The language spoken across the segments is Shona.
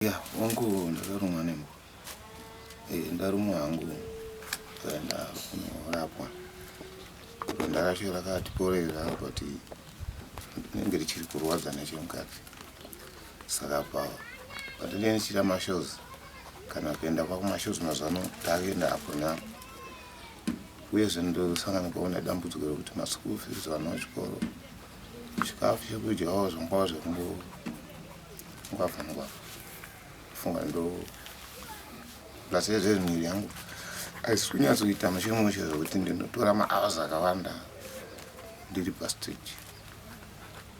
ya hongu ndakarumwa nembwa eh, ndarumwa hangu kaenda kunorapwa ndakasho rakatiporera but rinenge richiri kurwadza nechemukati saka pa pandinenge ndichiita mashows kana kuenda kwakumashows mazano takuenda apo napo uyezve ndosanganikwawo nedambudziko rekuti maschool fees vana vachikoro zvikafu chekudyawo zvangwava zvekumbo Ukabva nokwa funga ndo plus yezve miri yangu haisi kunyatsoita mushe mushe zvekuti ndinotora mahours akawanda ndiri pastage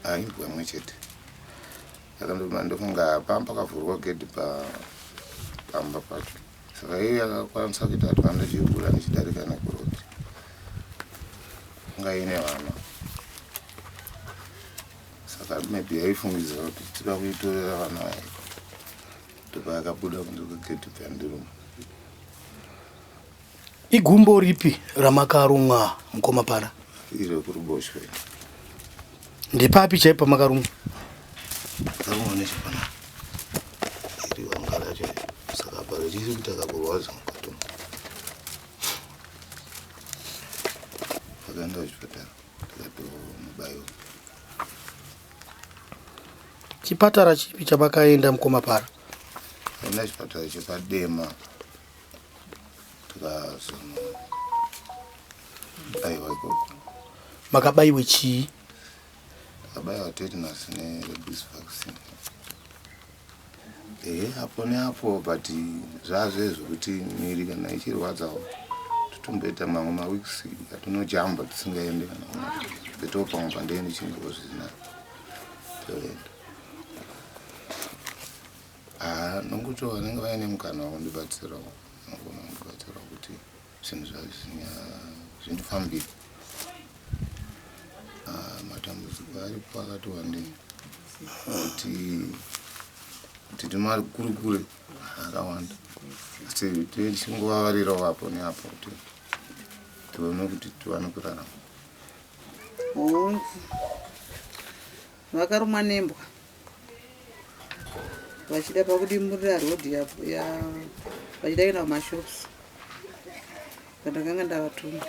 haindwa mwe chete saka ndofunga pamba pakavhurwa gedhi pamba pacho saka iyo yakakwanisa kuita kuti vandochivhura ndichidarika nekuroti ngaine vana saka maybe yaifungidzira kuti tida kuitorera vana vayo ndopa yakabuda kunze kwegedhi byandiruma igumbo ripi ramakarumwa mukoma para iri kuruboshwe ndepapi chaipo pamakarumwa akarumwa nechepana iri vangara chai saka pa richiri kuita kakurwadza mukati vakaenda kuchipatara chipatara chipi chamakaenda mukoma para enda chipatara chepadema tikazonobaiwa ikoko makabaiwe chii takabaiwa tetanus nerebis vaccine Ehe apo neapo but zvazve zvekuti miri kana ichirwadzawo totomboita mamwe maweeks atinojamba tisingaende kana betowo pamwe pandeende chinguvo zvisina toenda haa nonguti vanenge vaine mukana wakundibatsirawo nongonondibatsirawo kuti zvinhu zvindifambira ah, matambudziko aripo akati wandei kuti tiri mari kuri kure akawanda asi tichingovavarirawo apo neapo kuti tione kuti tiwane kurarama hongu vakarumwa nembwa vachida pakudimurira road vachida kuenda kumashops pandakanga ndavatuma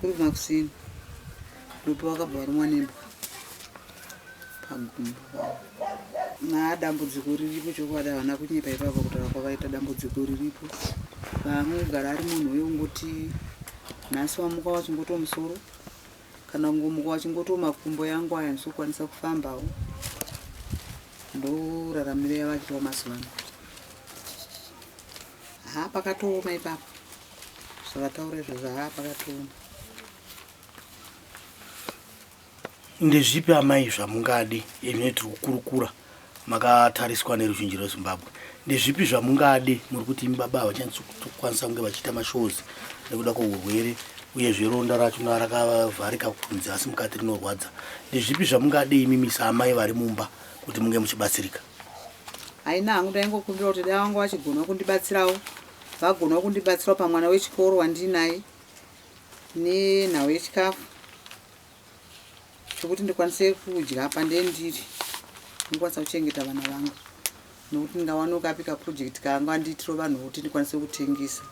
kuri kumakusini ndopo vakabva varumwa nembwa pagumbo naa dambudziko riripo chokwadi havana kunyepa ipapo kutaura kwavaita dambudziko riripo vaamwe kugara ari munhu uye ungoti nhasi wamuka wachingoto musoro kana kungomuka wachingotiwo makumbo yangu aya ndisokwanisa kufambawo ndoraramiro yavakiwa mazuva ano haa pakatooma ipapo zvavataura izvo zvahaa pakatooma ndezvipi amai zvamungadi ine tiri kukurukura makatariswa neruzhinji rwezimbabwe ndezvipi zvamungade muri kuti imi baba havachanyatsikwanisa kunge vachiita mashows nekuda kweurwere uyezve ronda racho rakavharika kunze asi mukati rinorwadza ndezvipi zvamungade imi misa amai vari mumba kuti munge muchibatsirika haina hangu ndaingokumbira kuti dai vanga vachigona kundibatsirawo vagona kundibatsirawo pamwana wechikoro wandinaye nenhau yechikafu zvekuti ndikwanise kudya apa ndendiri ndikwanisa kuchengeta vana vangu nokuti ndingawano kapi kaproject kanga ndiitiro vanhu kuti ndikwanise kutengesa